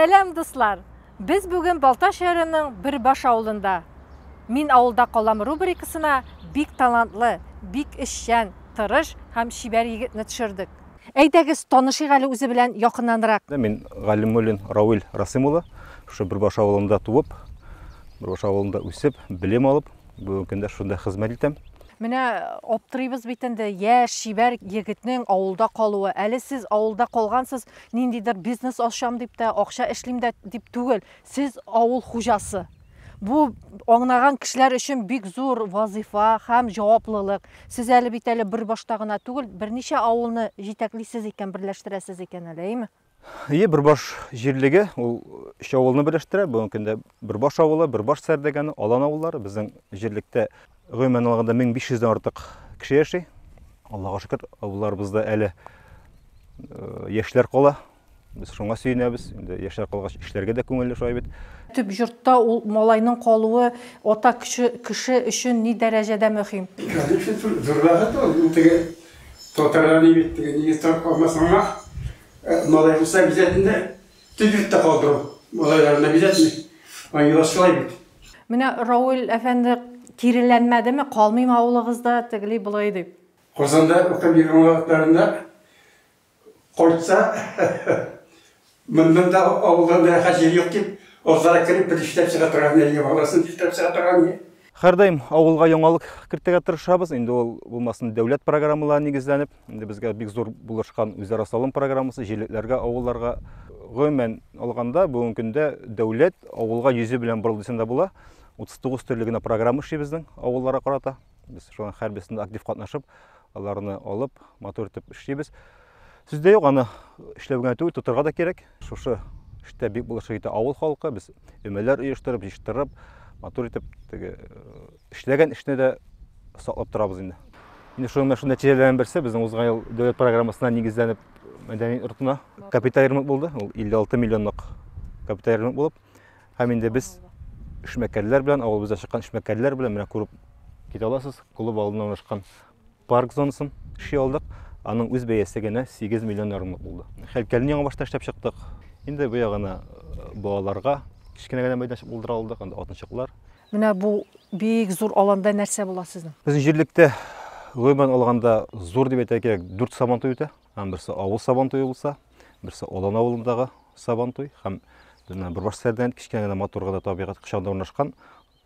Сәлам, дуслар! Без бүген Балта шәһәренең Бирбаш авылында. Мин авылда калам рубрикасына бик талантлы, бик эшчән, тырыш һәм чибәр егетне төшердек. Әйдәгез, танышыйк әле үзе белән якыннанрак. Мин Галимуллин Равил Расым улы. Шушы Бирбаш авылында туып, Бирбаш авылында үсеп, белем алып, Бүгенге көндә шунда хезмәт итәм. Менә аптырыйбыз бит инде, яшь, чибәр егетнең авылда калуы. Әле сез авылда калгансыз, ниндидер бизнес ачам дип тә, акча эшлим дә дип түгел. Сез авыл хуҗасы. Бу аңнаган кешеләр өчен бик зур вазифа һәм җаваплылык. Сез әле бит әле бер башта гына түгел, берничә авылны җитәклисез икән, берләштерәсез икән әле, әйме? Ие Бөрбаш җирлеге ул өч авылны берләштерә. Бүгенге көндә Бөрбаш авылы, Бөрбаш Сәрдәгәне, Алан авыллары безнең җирлектә гомумән алганда 1500 дән артык кеше яши. Аллага шөкер, авылларыбызда әле э, яшьләр кала. Без шуңа сөенәбез. Инде яшьләр калгач эшләргә дә күңелле шулай бит. Төп йортта ул малайның калуы ата кеше, кеше өчен ни дәрәҗәдә мөһим? Конечно, зур рәхәт ул. Теге Татарларны бит теге нигез тартып калмас аңа. Малай булса обязательно да төзелеп тә калдыру. Малайларны обязательно. Аңа юллар шулай бит. Менә Рауль әфәнде киреләнмәдеме, калмыйм авылыгызда тегели болай дип. Казанда укып йөргән вакытларында Кайтса, монда авылдан рәхәт җир юк дип, азрак кереп бер эшләп чыга торган әйе, баласын дипләп чыга торган әйе. Һәрдаим авылга яңалык кертергә тырышабыз. Инде ул булмасын дәүләт программаларына нигезләнеп, инде безгә бик зур булышкан үзара салым программасы җирлекләргә, авылларга. Гомумән алганда, бүгенге көндә дәүләт авылга йөзе белән борылды дисәң дә була. 39 төрле генә программа эшли безнең авылларга карата. Без шуның һәрберсендә актив катнашып, аларны алып, матур итеп эшлибез. Сүздә юк, аны эшләп генә түгел, тотырга да кирәк. Шушы эштә бик булышы итә авыл халкы. Без өмәләр оештырып, җыштырып, матур итеп теге э, эшләгән эшне дә саклап торабыз инде. Инде шуның менә шундый нәтиҗәләрнең берсе безнең узган ел дәүләт программасына нигезләнеп мәдәни йортына капиталь ремонт булды. Ул 56 миллионлык капиталь ремонт булып Һәм инде без эшмәкәрләр белән, авылыбызда чыккан эшмәкәрләр белән менә күреп китә аласыз, клуб алдында урнашкан парк зонасын эшли алдык. Аның үз бәясе генә 8 миллион ярымлык булды. Хәлкәлне яңа башта эшләп чыктык. Инде бу ягына э, балаларга кечкенә генә мәйданчык булдыра алдык, анда атынчыклар. Менә бу бик зур аланда нәрсә була сезнең? Безнең җирлектә гомумән алганда зур дип әйтә кирәк, 4 сабантуй үтә. Һәм берсе авыл сабан туе булса, берсе Олан авылындагы сабан туй һәм Дина Бурбаш сәрдән кичкән генә матур гына табигать кочагында урнашкан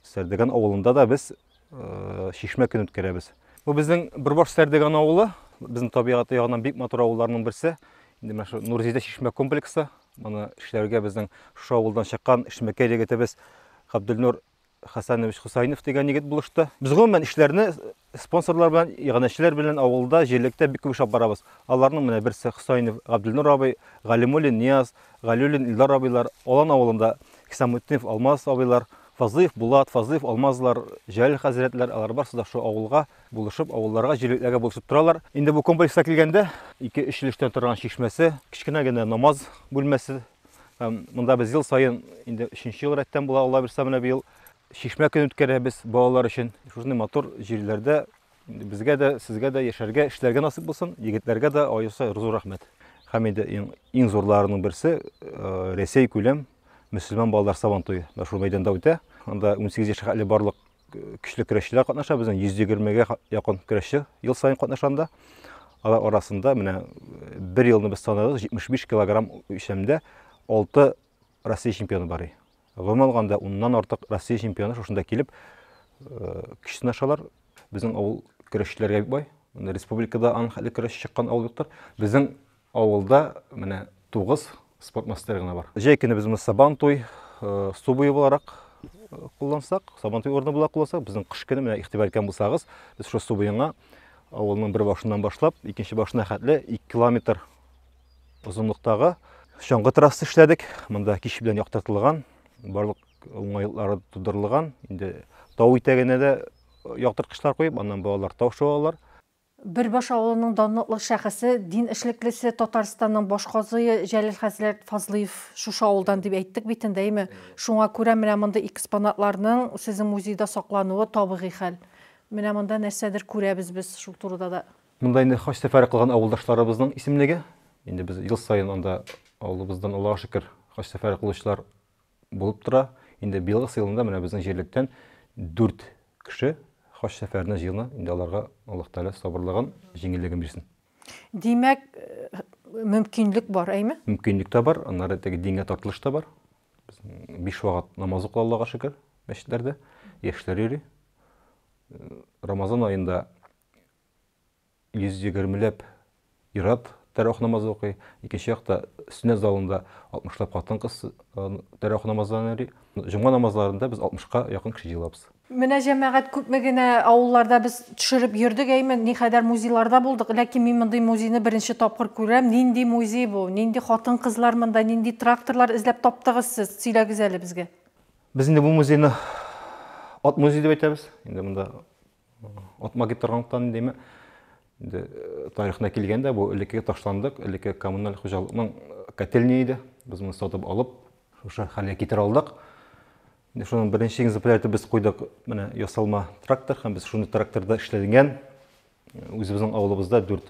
Сәрдеган авылында да без э, шишмә көн үткәрәбез. Бу безнең Бурбаш Сәрдеган авылы, безнең табигаты ягыннан бик матур авылларның берсе. Инде менә шу Нурзидә шишмә комплексы. Моны эшләргә безнең шушы авылдан чыккан эшмәкәр егетебез Габделнур Хәсәнович Хусайнов дигән егет булышты. Без гомумән эшләрне спонсорлар белән, иганәчеләр белән авылда, җирлектә бик күп эшләп барабыз. Аларның менә берсе Хусайнов Габделнур абый, Галимуллин Нияз, Галиуллин Илдар абыйлар, Алан авылында Хисамутдинов Алмаз абыйлар, Фазлыев Булат, Фазлыев Алмазлар, Җәлил хәзрәтләр, алар барысы да шул авылга булышып, авылларга, җирлекләргә булышып торалар. Инде бу комплекска килгәндә, ике-өч өлештән торган чишмәсе, кечкенә генә намаз бүлмәсе, Монда без ел саен, инде өченче ел рәттән була, Алла бирса менә быел чишмә көн үткәрәбез балалар өчен. Шушындый матур җирләрдә безгә дә, сезгә дә яшәргә, эшләргә насыйп булсын. Егетләргә дә аеруча зур рәхмәт. Һәм инде иң, иң зурларының берсе э, Рәсәй күләм мөселман балалар сабан туе. Менә шул мәйданда үтә. Анда 18 яшькә хәтле барлык Көчле көрәшчеләр катнаша, безнең 120-гә якын көрәшче ел саен катнашанда. Алар арасында менә э, бер елны без санадык, 75 килограмм үлчәмдә 6 Россия чемпионы бар. Гомумән алганда, уннан артык Россия чемпионы шушында килеп э, көч сынашалар. Безнең авыл көрәшчеләргә бик бай. Республикада аның хәтле көрәшче чыккан авыл юктыр. Безнең Авылда менә тугыз спорт мастеры гына бар. Җәй көне без моны Сабантуй су буе буларак куллансак, Сабантуй урыны була куллансак, безнең кыш көне менә игътибар иткән булсагыз, без шул су буена авылның бер башыннан башлап, икенче башына хәтле 2 километр озынлыктагы чаңгы трасса эшләдек. Монда кич белән яктыртылган, барлык уңайлыклары тудырылган. Инде тау итәгенә дә яктырткычлар куеп, аннан балалар тау шуалар. Бөрбаш авылының данлыклы шәхесе, дин эшлеклесе, Татарстанның баш казые Җәлил хәзрәт Фазлыев шушы авылдан дип әйттек бит инде, әйме? Шуңа күрә менә мондый экспонатларның сезнең музейда саклануы табигый хәл. Менә монда нәрсәдер күрәбез без шул турыда да. Монда инде хаҗ сәфәре кылган авылдашларыбызның исемлеге. Инде без ел саен анда авылыбыздан Аллага шөкер хаҗ сәфәре кылучылар булып тора. Инде быелгы сыйлында менә безнең җирлектән 4 кеше хаҗ сәфәренә җыена. Инде аларга Аллаһ Тәгалә сабырлыгын, җиңеллеген бирсен. Димәк, мөмкинлек бар, әйме? Мөмкинлек тә бар, аннары теге дингә тартылыш та бар. Биш вакыт намаз укыла Аллага шөкер, мәчетләрдә яшьләр йөри. Рамазан аенда йөз егермеләп ир-ат тәравих намазы укый, икенче якта сөннәт залында алтмышлап хатын-кыз тәравих намазларын йөри. Җомга намазларында без алтмышка якын кеше җыелабыз. Менә җәмәгать күпме генә авылларда без төшереп йөрдек, әйме, никадәр музейларда булдык, ләкин мин мондый музейны беренче тапкыр күрәм. Нинди музей бу? Нинди хатын-кызлар монда, нинди тракторлар эзләп таптыгыз сез? Сөйләгез әле безгә. Без инде бу музейны ат музее дип әйтәбез. Инде монда Атма китеп торганлыктан индеме, инде э, тарихына килгәндә бу элеккеге ташландык, элекке коммуналь хуҗалыкның э, котельня иде. Без моны сатып алып, шушы хәлгә китерә алдык. Инде шуның беренче экземплярын без куйдык, менә ясалма трактор һәм без шуны тракторда эшләнгән. Э, үзебезнең авылыбызда дүрт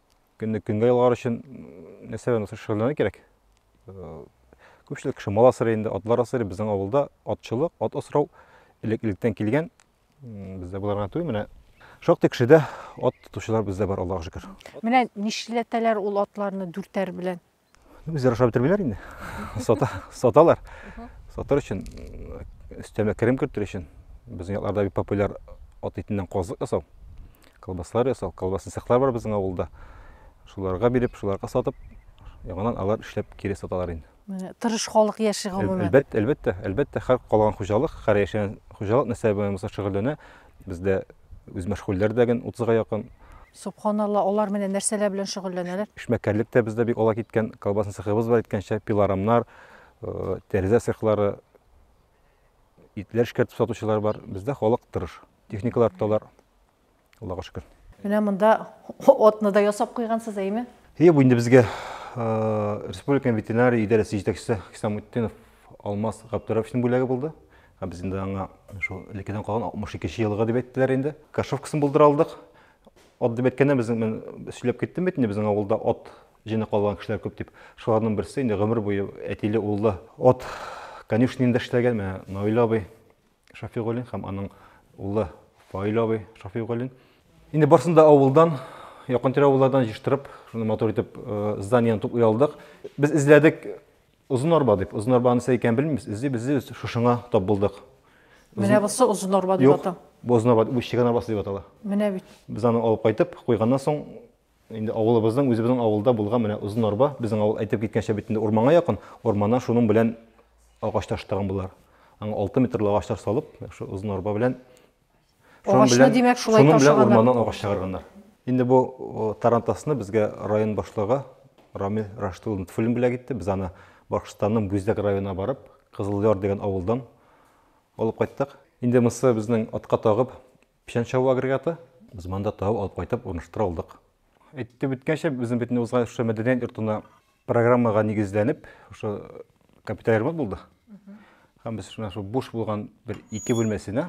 көнне көнгә ялгар өчен нәрсә белән шөгыльләнә кирәк. Күпчелек кеше мал асрый инде, атлар асрый. Безнең авылда атчылык, ат асрау элек-электән килгән. Бездә боларга түгел, менә шактый кешедә ат тотучылар бездә бар, Аллаһуга шөкер. Менә нишләтәләр ул атларны дүртәр белән? Үзләре ашап бетермиләр инде. Сата, саталар. Сатыр өчен өстәмә керем кертер өчен безнең якларда бик популяр ат итеннән казлык ясау. Колбаслар ясау, колбасны цехлар бар безнең авылда. Шуларга биреп, шуларга сатып, яңадан алар эшләп кире саталар инде. Тырыш халык яши гомумән. Әлбәттә, әлбәттә, әлбәттә, һәр калган хуҗалык, һәр яшәгән хуҗалык нәрсә белән булса шөгыльләнә, Бездә үзмәшгульләр дә гел утызга якын. Сөбханалла, алар менә нәрсәләр белән шөгыльләнәләр? Эшмәкәрлек тә бездә бик ала киткән. Колбасный цехыбыз бар, әйткәнчә, пилорамнар, э, тәрәзә цехлары, итләр эшкәртеп сатучылар бар. Бездә халык тырыш. Техникалар тоталар. Аллага шөкер. Менә монда отны да ясап куйгансыз, әйме? Әйе, бу инде безгә э, республика ветеринария идарәсе җитәкчесе Хисамутдинов Алмаз Габдуровичның бүләге булды. Ә без инде аңа шул элеккедән калган 62 нче елга дип әйттеләр инде. Кашовкасын булдыра алдык. Ат дип әйткәндә безнең мен сөйләп киттем бит инде безнең авылда ат җене калган кешеләр күп дип. Шуларның берсе инде гомер буе әтиле уллы ат конюшнинда эшләгән менә Наил абый Шафигуллин һәм аның улы Фаил абый Шафигуллин. Инде барсын да авылдан, якын-тирә авыллардан җыштырып, шуны матур итеп зданиены туплый алдык. Без эзләдек, Озын арба дип, озын арба нәрсә икәнен белмибез, эзлиб, эзлибез, шушыңа тап булдык. Менә бусы озын арба дип ата. Бу озын арба, бу чегән арбасы дип атала. Менә бит. Без аны алып кайтып, куйганнан соң, инде авылыбызның, үзебезнең авылда булган менә озын арба, безнең авыл әйтеп киткәнчә бит инде урманга якын, урманнан шуның белән агач таштаган булар. Аңа 6 метрлы агачлар салып, шул озын арба белән Агачны, димәк, шулай ташыганнар. Шуның белән урманнан агач чыгарганнар. Инде бу тарантасны безгә район башлыгы Рамил Рашид улы Нутфуллин бүләк итте. Без аны Башкортстанның Бүздәк районына барып, Кызыл Яр дигән авылдан алып кайттык. Инде монысы безнең атка тагып печән чабу агрегаты. Без монда тагып алып кайтып урнаштыра алдык. Әйтеп үткәнчә, безнең бит узган шушы мәдәният йортына программага нигезләнеп, шушы капиталь ремонт булды. Һәм без шуна шул буш булган бер ике бүлмәсенә,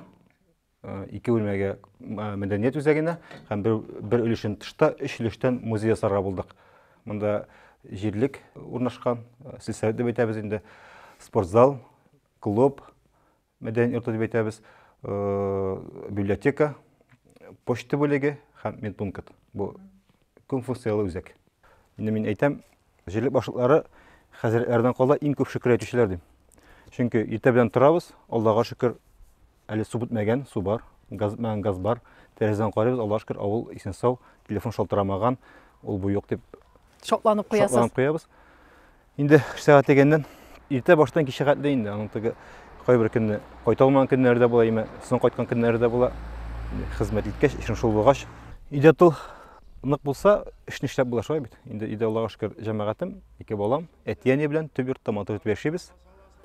э, ике бүлмәгә э, мәдәният үзәгенә һәм бер, бер өлешен тышта, өч өлештән музей ясарга булдык. Монда җирлек урнашкан, э, сельсовет дип әйтәбез инде, спортзал, клуб, Мәдәният йорты дип әйтәбез, библиотека, почта бүлеге һәм медпункт. Бу күп функцияле үзәк. Инде мин әйтәм, җирлек башлыклары хәзрәтләрдән кала иң күп шөкер әйтүчеләр дип. Чөнки иртә белән торабыз, Аллага шөкер, әле су бетмәгән, су бар, газ бетмәгән, газ бар. Тәрәзәдән карыйбыз, Аллага шөкер, авыл исән сау, телефон шалтырамаган, ул бу юк дип шатланып куябыз. Инде үш сәгать дигәннән иртә баштан кичә хәтле инде аның теге кайбер көнне кайта алмаган көннәре дә була, яме соң кайткан көннәре дә була. Хезмәт иткәч, эшең шул булгач, өйдә тыл нык булса, эшне эшләп була шулай бит. Инде өйдә Аллага шөкер, җәмәгатем, ике балам, әти-әни белән төп йортта матур итеп яшибез.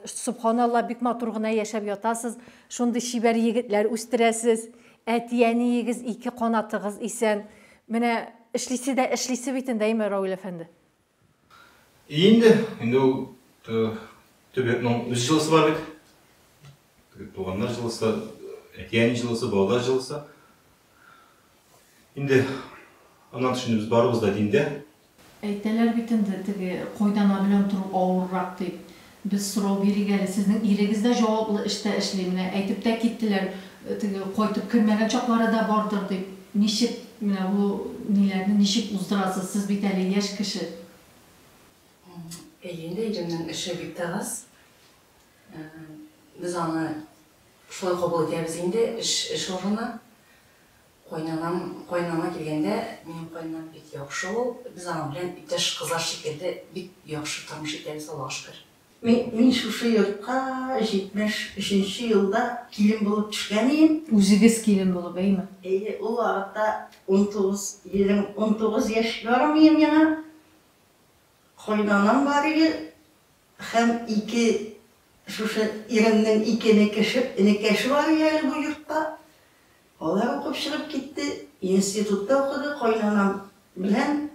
Сөбханалла, бик матур гына яшәп ятасыз, шундый чибәр егетләр үстерәсез, әти-әниегез ике канатыгыз исән. Менә эшлисе дә эшлисе бит инде, әйме, Равил әфәнде? И инде, инде ул төбәкнең үз җылысы бар бит. Туганнар җылысы, әтиәни җылысы, балалар җылысы. Инде аннан тыш без барыбыз да диндә. Әйтәләр бит инде, теге койдана белән тору авыррак дип. Без сорау бирик әле, сезнең ирегез дә җаваплы эштә эшли, менә әйтеп тә киттеләр, теге кайтып кермәгән чаклары да бардыр дип. Ничек менә бу ниләрне ничек уздырасыз, сез бит әле яшь кеше? Әйе инде, иремнең эше бик тә аз. Без аны шулай кабул итәбез инде, эш, эш урыны. Кайнанам, кайнана килгәндә, минем кайнанам бик яхшы ул, без аның белән иптәш кызлар шикелле бик яхшы тормыш итәбез, Аллага шөкер. Мин шушы йортка 73 нче елда килен булып төшкән ием. Үзегез килен булып, әйме? Әйе, ул вакытта унтугыз, унтугыз яшь ярым ием яңа. Кайнанам бар иде һәм ике шушы иремнең ике энекеше, энекәше бар иде әле бу йортта. Алар укып чыгып китте, институтта укыды. Кайнанам белән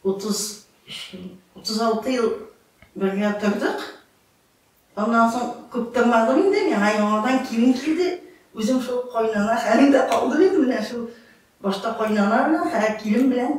33 ел, 36 ел бергә тордык. Аннан соң күп тормадым инде, миңа яңадан килен килде. Үзем шул кайнана хәлендә калдым инде, менә шул башта кайнана белән, хәзер килен белән.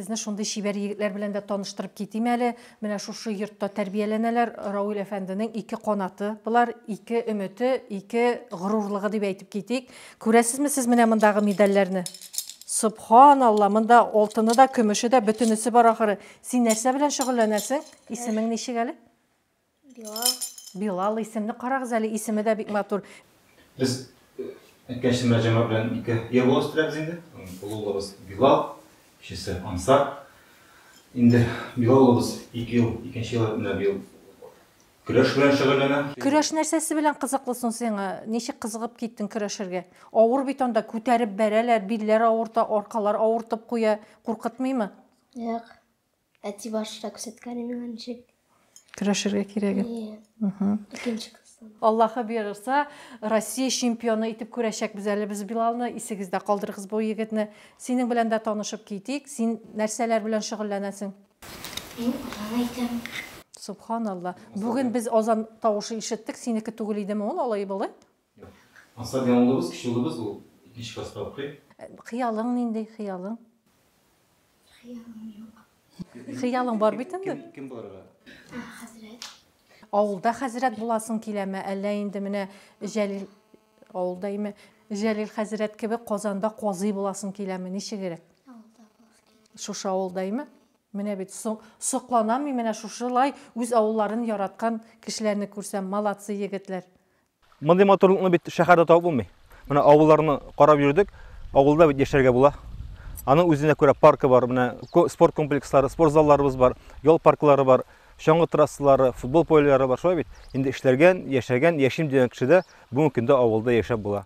Сезне шундый чибәр егетләр белән дә таныштырып китим әле. Менә шушы йортта тәрбияләнәләр. Рауил әфәнденең ике канаты. Болар ике өмете, ике горурлыгы дип әйтеп китик. Күрәсезме сез менә мондагы медальләрне? Субханалла, монда алтыны да, көмеше дә, бөтенесе бар ахыры. Син нәрсә белән шөгыльләнәсең? Исемең ничек әле? Билал. Билал исемне карагыз әле, исеме дә бик матур. Без әйткәнчә Мәрҗәмә белән ике ир бала үстерәбез инде. Олы улыбыз Билал, кечесе Ансар. Инде Билал улыбыз ике ел, икенче ел менә быел көрәш белән шөгыльләнә. Көрәш нәрсәсе белән кызыклы соң сиңа? Ничек кызыгып киттең көрәшергә? Авыр бит анда, күтәреп бәрәләр, билләр авырта, аркалар авыртып куя. Куркытмыймы? Юк. Әти башта күрсәткәне миңа ничек. Көрәшергә кирәген. Иә. Икенче класстан. Аллаһы бирырса, Россия чемпионы итеп күрәчәкбез әле без Билалны. Исегездә калдырыгыз бу егетне. Синең белән дә танышып китик. Син нәрсәләр белән шөгыльләнәсең? Мин азан әйтәм. Субханалла. Бүген без азан тавышы ишеттек. Синеке түгел идеме ул алай-болай? Ансат яңа улыбыз, кече улыбыз ул икенче класста укый. Хыялың нинди, хыялың? Хыялым юк. Хыялың бар бит инде. Кем булырга? Хәзрәт. Авылда хәзрәт буласың киләме, әллә инде менә Җәлил авылда име? Җәлил хәзрәт кебек Казанда казый буласың киләме? Ничегрәк? Авылда буласың килә. Шушы авылда име? Менә бит сокланам мин менә шушылай үз авылларын яраткан кешеләрне күрсәм, молодцы егетләр. Мондый матурлыкны бит шәһәрдә табып булмый. Менә авылларны карап йөрдек. Авылда бит яшәргә була. Аның үзенә күрә паркы бар, менә спорт комплекслары, спорт залларыбыз бар, ял парклары бар, чаңгы трассалары, футбол полялары бар, шулай бит. Инде эшләргән, яшәгән, яшим дигән кеше дә бүгенге көндә авылда яшәп була.